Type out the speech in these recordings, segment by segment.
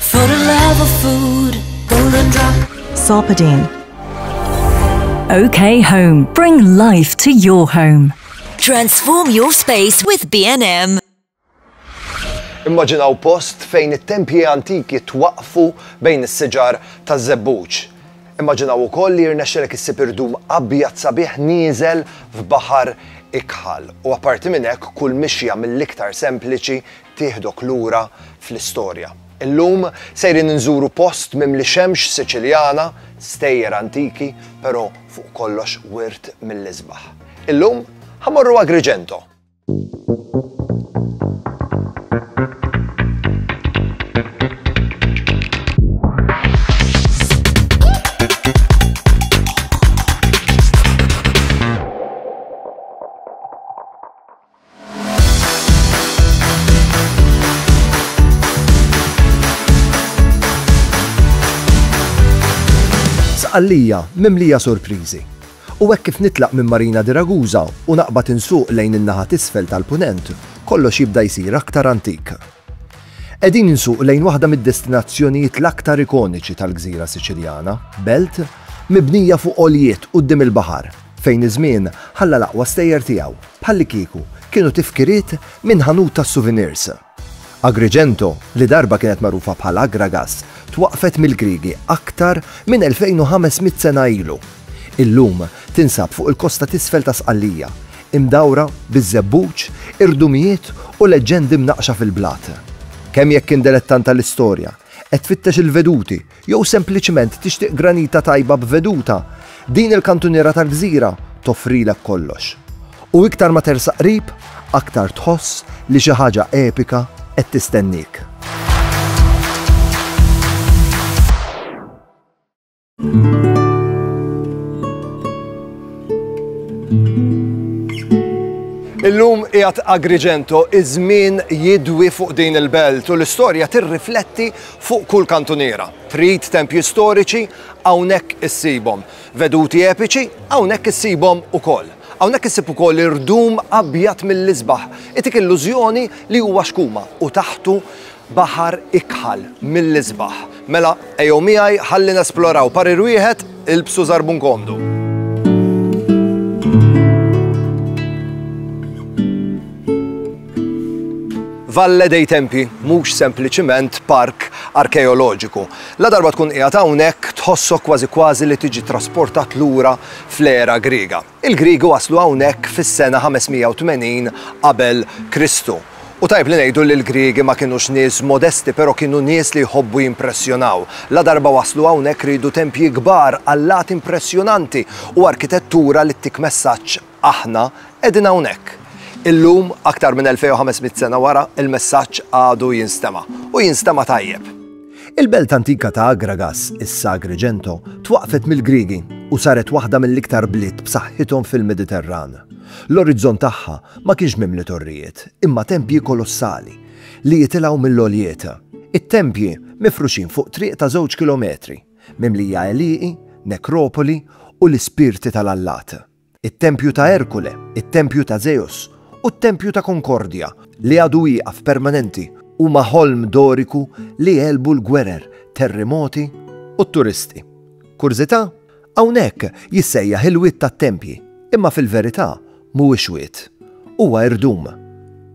For the love of food, golden drop. Sarpedin. OK Home. Bring life to your home. Transform your space with B&M. Immaġinaw post fejn it-tempji antiki twaqqfu bejn is-siġar ta' żebbuġ. Immaġinaw ukoll li jirnexxelek issib irdum abjad sabiħ nieżel f'baħar ikħal. U apparti minn hekk kull mixja mill-iktar sempliċi tieħdok lura fl-istorja. Illum sejrin inżuru post mimli xemx Siċiljana, stejjer antiki, pero fuq kollox wirt mill-isbaħ. Illum ħa morru Agrigento. Sqallija mimlija surpriżi. U hekk kif nitlaq minn Marina di Ragusa u naqbad insuq lejn in-naħa t'isfel tal-Punent, kollox jibda jsir aktar antik. Qegħdin insuq lejn waħda mid-destinazzjonijiet l-aktar ikoniċi tal-gżira Siċiljana, belt mibnija fuq għoljiet quddiem il-baħar, fejn iż-żmien ħalla l-aqwa stejjer tiegħu, bħallikieku kienu tifkiriet minn ħanut tas-souvenirs. Agrigento, li darba kienet magħrufa bħal Agragas, twaqqfet mill-Griegi aktar minn 2,500 sena ilu. Illum tinsab fuq il-kosta t'isfel ta' Sqallija, imdawra biż-żebbuġ, irdumijiet u leġġendi mnaqqxa fil-blat. Kemm jekk int delettant tal-istorja, qed tfittex il-veduti jew sempliċement tixtieq granita tajba b'veduta, din il-kantuniera tal-gżira toffrilek kollox. U iktar ma tersaq qrib, aktar tħoss li xi ħaġa epika qed tistenniek. Illum qiegħed Agrigento iż-żmien jidwi fuq din il-belt u l-istorja tirrifletti fuq kull kantuniera. Trid tempji storiċi hawnhekk issibhom. Veduti epiċi hawnhekk issibhom ukoll. Hawnhekk issib ukoll irdum abjad mill-isbaħ. Itik illużjoni li huwa xkuma u taħtu Baħar ikħal mill-isbaħ. Mela, ejjew miegħi ħalli nesploraw parir wieħed ilbsu żarbun komdu. Valle dei Tempi mhux sempliċiment park arkeoloġiku. La darba tkun qiegħed hawnhekk tħossok kważi kważi li tiġi trasportat lura fl-era Griega. Il-Griegi waslu hawnhekk fis-sena 580 qabel Kristu. U tajjeb li ngħidu li l-Griegi ma kinux nies modesti però kienu nies li jħobbu jimpressjonaw. Ladarba waslu hawnhekk riedu tempji kbar, allat impressjonanti u arkitettura li ttik messaġġ aħna qegħdin hawnhekk. Illum, aktar minn 2,500 sena wara, il-messaġġ għadu jinstema'. U jinstema' tajjeb. Il-belt antika ta' Agragas, issa Agrigento, twaqqfet mill-Griegi u saret waħda mill-iktar bliet b'saħħithom fil-Mediterran. L-orizzont tagħha ma kienx mimli torrijiet, imma tempji kolossali li jitilgħu mill-għoljiet. It-tempji, mifruxin fuq triq ta' żewġ kilometri, mimlija għelieqi, nekropoli u l-ispirti tal-allat. it-tempju ta' Erkule, it-tempju ta' Żeus, u t-tempju ta' Konkordja, li għadu wieqaf permanenti, huma ħolm Doriku li għelbu l-gwerer, terrimoti, u t-turisti. Kurżità? Hawnhekk jissejjaħ il-wied tat-tempji, imma fil-verità mhuwiex wied. Huwa irdum.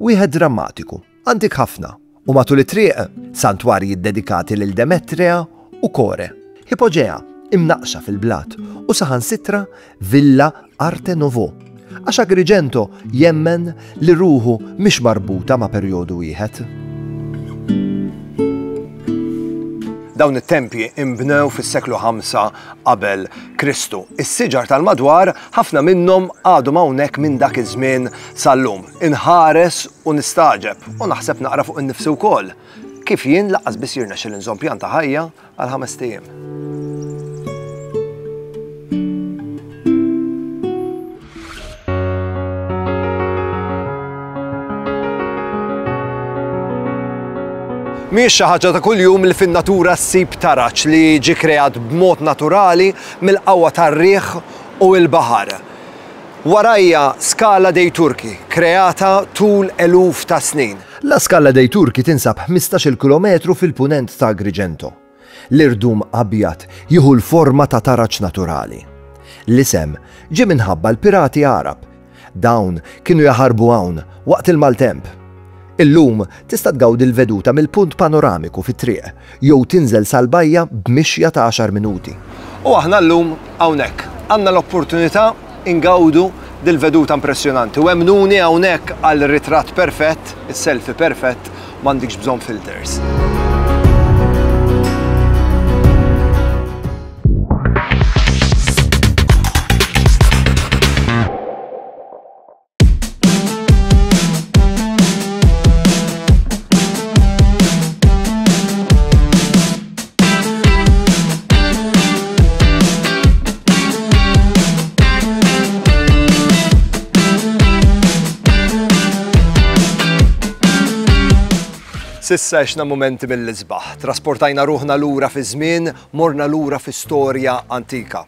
Wieħed drammatiku. Antik ħafna, u matul it-triq, santwarji ddedikati lil Demetrea u Kore, Hipoġea, imnaqqxa fil-blat, u saħansitra Villa Arte Nouveau, għax Agrigento jemmen li ruħu mhix marbuta ma' perjodu wieħed. Dawn it-tempji imbnew fis-seklu 5 qabel Kristu. Is-siġar tal-madwar ħafna minnhom għadhom hawnhekk minn dak iż-żmien sal-lum. Inħares u nistagħġeb, u naħseb naqra fuq innifsi wkoll, kif jien laqqas biss jirnexxil inżomm pjan ta' ħajja għal ħamest ijiem. Mhijiex xi ħaġa ta' kuljum li fin-natura ssib taraġ li ġie kreat b'mod naturali mill-qawwa tar-riħ u l-baħar. Warajja Scala dei Turchi, kreata tul eluf ta' snin. La Scala dei Turchi tinsab ħmistax-il kilometru fil-punent ta' Agrigento. L-irdum abjad jieħu l-forma ta' taraġ naturali. L-isem ġie minħabba l-pirati Għarab. Dawn kienu jaħarbu hawn waqt il-maltemp. Illum tista' tgawdi l-veduta mill-punt panoramiku fit-triq jew tinżel sal-bajja b'mixja ta' għaxar minuti. U aħna llum hawnhekk. Għandna l-opportunità ingawdu dil-veduta impressjonanti u emmnuni hawnhekk għal ritratt perfett, is-selfie perfett, m'għandikx bżonn filters. Sissa xna momenti mill-isbaħ. Trasportajna ruħna lura fi żmien, morna lura fi storja antika.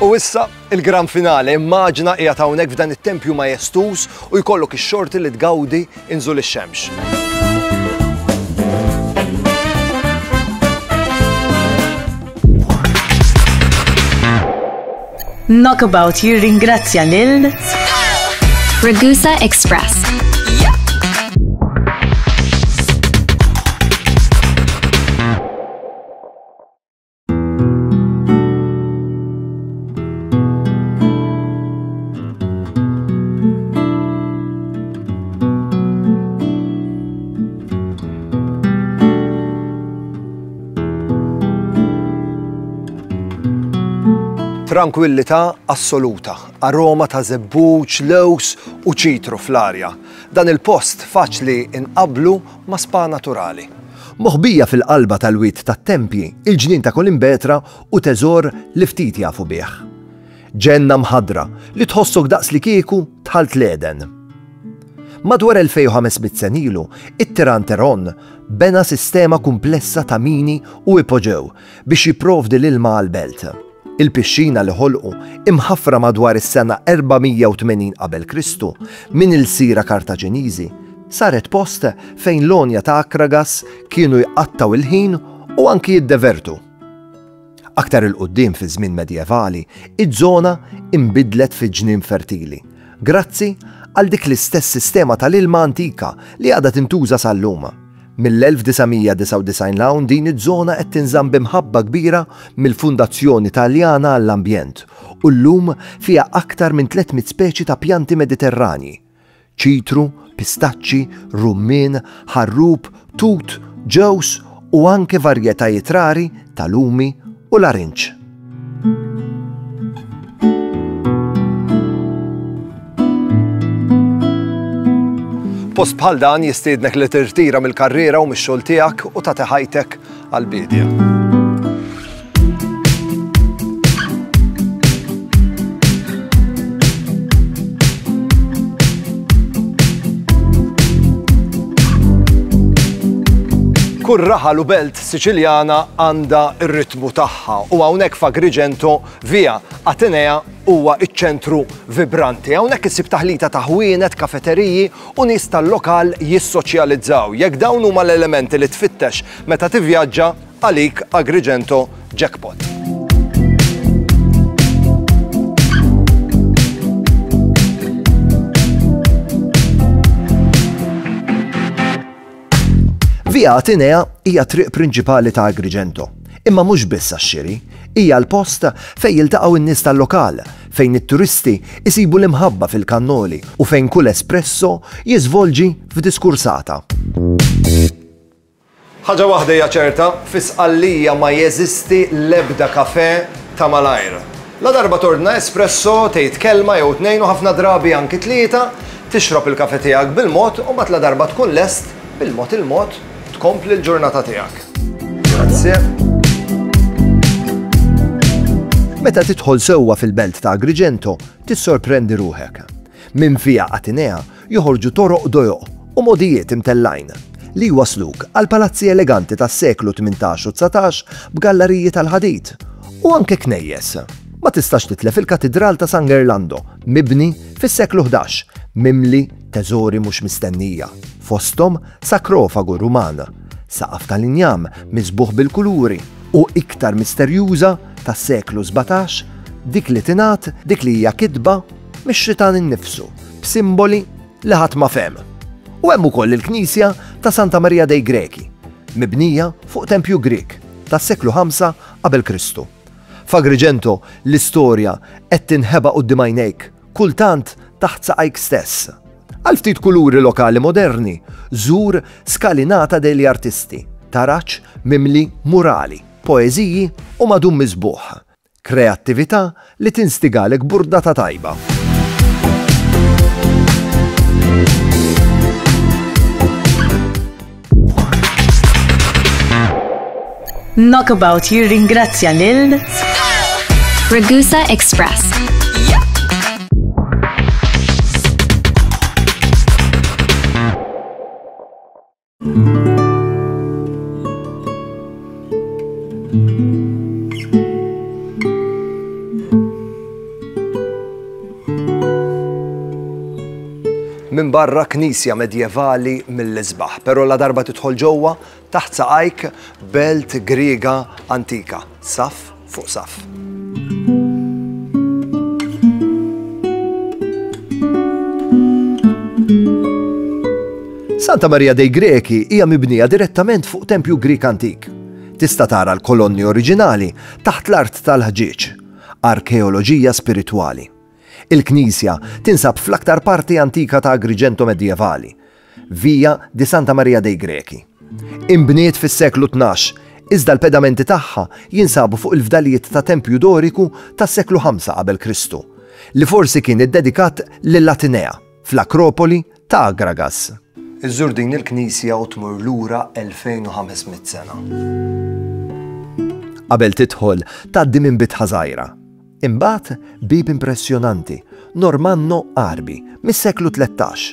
U issa, il-gran finale, immaġina qiegħed hawnhekk f'dan it-tempju majestus u jkollok ix-xorti li tgawdi inżul ix-xemx. Knockabout jirringrazzja lil Ragusa Express. Trankwillità assoluta, aroma ta' żebbuġ, lews u ċitru fl-arja. Dan il-post faċli inqabblu ma' spa naturali. Moħbija fil-qalba tal-wied tat-tempji, il-ġnien ta' Kolimbetra hu teżor li ftit jafu bih. Ġenna mħaddra li tħossok daqslikieku dħalt l-Għeden. Madwar 2,500 sen ilu, it-tiran Teron bena sistema kumplessa ta' mini u ipoġew biex jipprovdi l-ilma għall-belt. Il-pixxina li ħolqu, imħaffra madwar is-sena 480 qabel Kristu minn ilsira Kartaġiniżi, saret post fejn l-għonja ta' Akragas kienu jqattgħu l-ħin u anki jiddevertu. Aktar 'il quddiem fiż-żmien Medjevali, iż-żona inbidlet fi ġnien fertili, grazzi għal dik l-istess sistema tal-ilma antika li għadha tintuża sal-lum. Mill-1999 'l hawn din iż-żona qed tinżamm bi mħabba kbira mill-Fundazzjoni Taljana għall-Ambjent u llum fiha aktar minn 300 speċi ta' pjanti Mediterranji, ċitru, pistaċċi, rummien, ħarrub, tut, ġewż u anke varjetajiet rari ta' lumi u larinġ. Post bħal dan jistiednek li tirtira mill-karriera u mix-xogħol tiegħek u ta' teħajtek għal-bidja. Kull raħal u belt Siċiljana għandha r-ritmu tagħha u hawnhekk f'Agrigento, Via Atenea huwa ċ-ċentru vibranti. Hawnhekk issib taħlita ta' ħwienet, kafeteriji u nies tal-lokal jissoċjalizzaw. Jekk dawn huma l-elementi li tfittex meta tivvjaġġa, għalik Agrigento jackpot. Via Atenea hija triq prinċipali ta' Agrigento, imma mhux biss għax-xiri, hija l-post fejn jiltaqgħu n-nies tal-lokal, fejn it-turisti jsibu l-imħabba fil-kannoli u fejn kull espresso jiżvolġi f'diskursata. Ħaġa waħda hija ċerta, fi Sqallija ma jeżisti l-ebda kafè ta' malajr. Ladarba tordna espresso, tgħid kelma jew tnejn u ħafna drabi anki tlieta, tixrob il-kafè tiegħek bil-mod u mbagħad ladarba tkun lest, bil-mod il-mod, tkompli l-ġurnata tiegħek. Grazie. Meta tidħol sewwa fil-belt ta' Agrigento, tissorprendi ruħek. Minn Via Atenea, joħorġu toroq dojoq u mogħdijiet imtellgħin li jwassluk għall-palazzi eleganti tas-seklu tmintax u dsatax b'gallariji tal-ħadid, u anke knejjes. Ma tistax titlef il-Katidral ta' San Gerlando, mibni fis-seklu ħdax, mimli teżori mhux mistennija, fosthom sakrofagu Ruman, saqaf tal-injam miżbugħ bil-kuluri, u iktar misterjuża tas-seklu sbatax, dik li tingħad, dik li hija kitba, mix-Xitan innifsu, b'simboli li ħadd ma fehem. U hemm ukoll il-knisja ta' Santa Marija dei Greki, mibnija fuq tempju Grieg tas-seklu 5 qabel Kristu. F'Agrigento l-istorja qed tinħeba quddiem għajnejk, kultant taħt saqajk stess. Għal ftit kuluri lokali moderni, żur Scalinata degli Artisti, taraġ mimli murali, poeżiji u madum miżbuħ. Kreattività li tinstigalek burdata tajba. Knockabout jirringrazzja lil Ragusa Express. minn barra knisja medjevali mill-isbaħ, pero la darba tidħol ġewwa taħt saqajk belt Griega antika, saf fuq saff. Santa Maria dei Greci hija mibnija direttament fuq tempju Grieg antik. Tista' tara l-kolonni oriġinali taħt l-art tal-ħġieġ. Arkeoloġija spiritwali. Il-knisja tinsab fl-aktar parti antika ta' Agrigento medjevali, Via di Santa Maria dei Greci. Inbniet fis-seklu tnax, iżda l-pedamenti tagħha jinsabu fuq il-fdalijiet ta' tempju Doriku tas-seklu ħamsa qabel Kristu, li forsi kien iddedikat lil Atinea, fl-Akropoli ta' Agragas. Iżżur din il-knisja u tmur lura 2,500 sena. Qabel tidħol, tgħaddi minn bitħa żgħira. Imbagħad bieb impressjonanti, Normanno Għarbi, mis-seklu tlettax.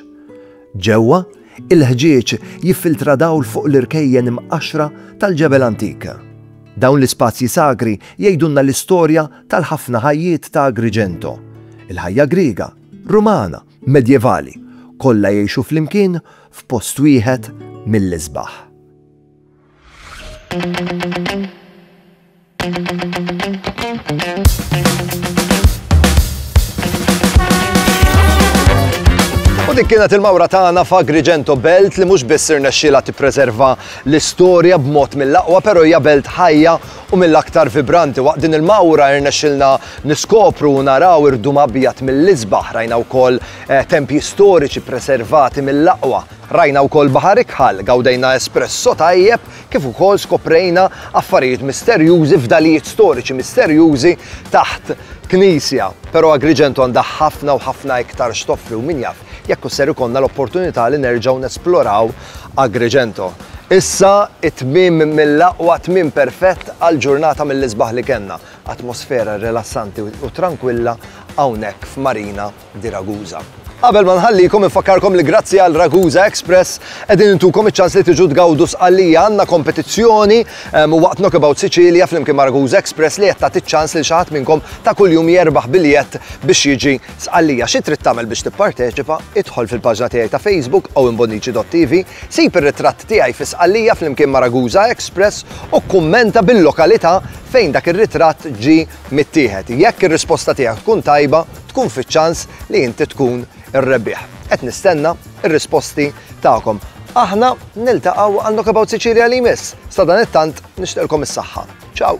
Ġewwa, il-ħġieġ jiffiltra dawl fuq l-irkejjen imqaxxra tal-ġebel antik. Dawn l-ispazji sagri jgħidulna l-istorja tal-ħafna ħajjiet ta' Agrigento. Il-ħajja Griega, Rumana, Medjevali, kollha jgħixu flimkien f'post wieħed mill-isbaħ. U dik kienet il-mawra tagħna f'Agrigento Belt li mhux biss irnexxiela tippreserva l-istorja b'mod mill-aqwa, però hija belt ħajja u mill-aktar vibranti. Waqt din il-mawra irnexxilna niskopru u naraw irdum abjad mill-isbaħ, rajna wkoll eh, tempji storiċi preservati mill-aqwa Rajna wkoll baħar ikħal, gawdejna espresso tajjeb kif ukoll skoprejna affarijiet misterjużi fdalijiet storiċi misterjużi taħt knisja. Pero Agrigento għandha ħafna u ħafna iktar x'toffri u min jaf jekk hux ser ikollna l-opportunità li nerġgħu nesploraw Agrigento. Issa it-tmiem mill-aqwa, tmiem perfett għal ġurnata mill-isbaħ li kellna. Atmosfera rilassanti u trankwilla hawnhekk f'Marina di Ragusa. Qabel ma nħallikom infakkarkom li grazzi għal Ragusa Express qegħdin intukom iċ-ċans li tiġu tgawdu Sqallija għandna kompetizzjoni ehm, waqt Knockabout Sicilia flimkien ma' Ragusa Express li qed tagħti ċ-ċans lil xi ħadd minnkom ta' kuljum jerbaħ biljett biex jiġi Sqallija. Xi trid tagħmel biex tipparteċipa? Idħol fil-paġna tiegħi ta' Facebook owenbonnici.tv, sib ir-ritratt tiegħi fi Sqallija flimkien ma' Ragusa Express u kummenta bil-lokalità fejn dak ir-ritratt ġi mittieħed. Jekk ir-risposta tiegħek tkun tajba, tkun fiċ-ċans li inti tkun ir-rebbieħ. Qed nistenna r-risposti tagħkom. Aħna niltaqgħu għal Knockabout Sicilia li jmiss. Sadanittant nixtieqlkom is-saħħa. Ciao!